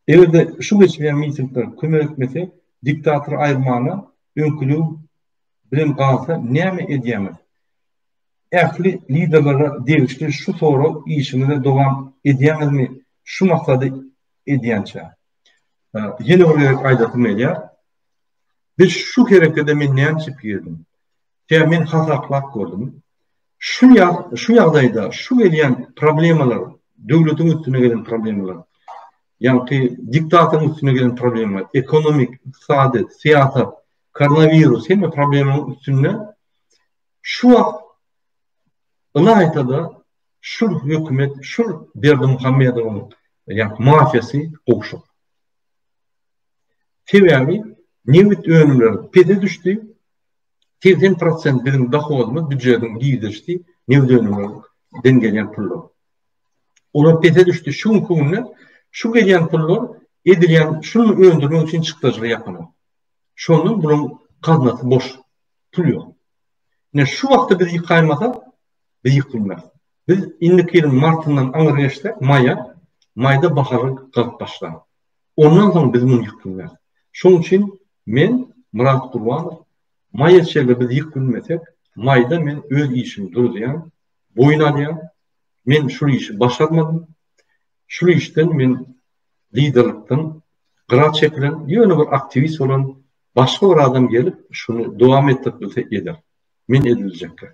Eger-de şu geçmeýän mitingler kömek etmese, diktatory aýyrmaga öňkülik bilen galsa näme edýäňiz? Ähli liderlere degişli şu sorag işiňizi dowam edýäňizmi şu maksady edýänçä? Ýene bir gezek aýdasym gelýär. Biz şu herekede men näme üçin girdim? Sebäbi men hasaplap gördüm. Şu şu ýagdaýda şu gelýän problemalar, döwletiň üstüne gelen problemalar, ýagny diktatoryň üstüne gelen problemalar, ekonomik, ykdysady, syýasat, koronawirus hemme problemanyň üstünde şu wagt ylaýta-da şu hökümet, şu Berdimuhamedowyň ýagny mafiýasy gowşak. Sebäbi nebit önümleri pese düşdi, 80 prosent biziň dohodymyz büjediň girdeşdi, nebit önümlerinden gelýän pullar. Olar pese düşdi. Şu günki günde şu gelýän pullar edilýän şu öndürmek üçin çykdajyga ýakyn. Şondan buluň gaznasy boş. Pul ýok. Ne şu wagtda biz ýykaýmasa, biz ýykylmarys. Biz indiki ýylyň martyndan aňry geçsek, maýa, maýda bahary galyp başlar. Ondan soň biz muny ýykdyrýarys. Şoň üçin men, Myrat Gurbanow, maýa çeýle biz ýyk bilmesek, maýda men öz işimi duruzýan, boýun alýan, men şul işi başarmadym, şul işden men liderlikden gyra çekilen, ýöne bir aktiwist bolan başga bir adam gelip, şuny dowam etdirip bilse eder. Men ediljekler.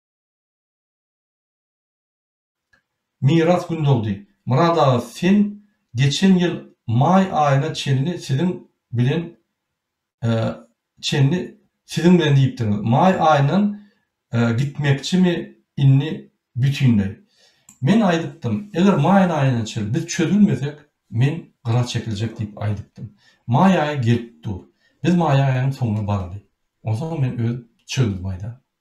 Miras Gündogdy, Myrat aga sen geçen ýyl maý aýyna çenli siziň bilen çenli siziň bilen diýipdiňiz. Maý aýyndan gitmekçimi indi bütinleý? Men aýdypdym, eger maýyň aýyna çenli biz çözülmesek, men gyra çekiljek diýip aýdypdym. Maý aýy gelip dur. Biz maý aýynyň soňuna baraly. Onsoň men öz pikirimi aýdaryn.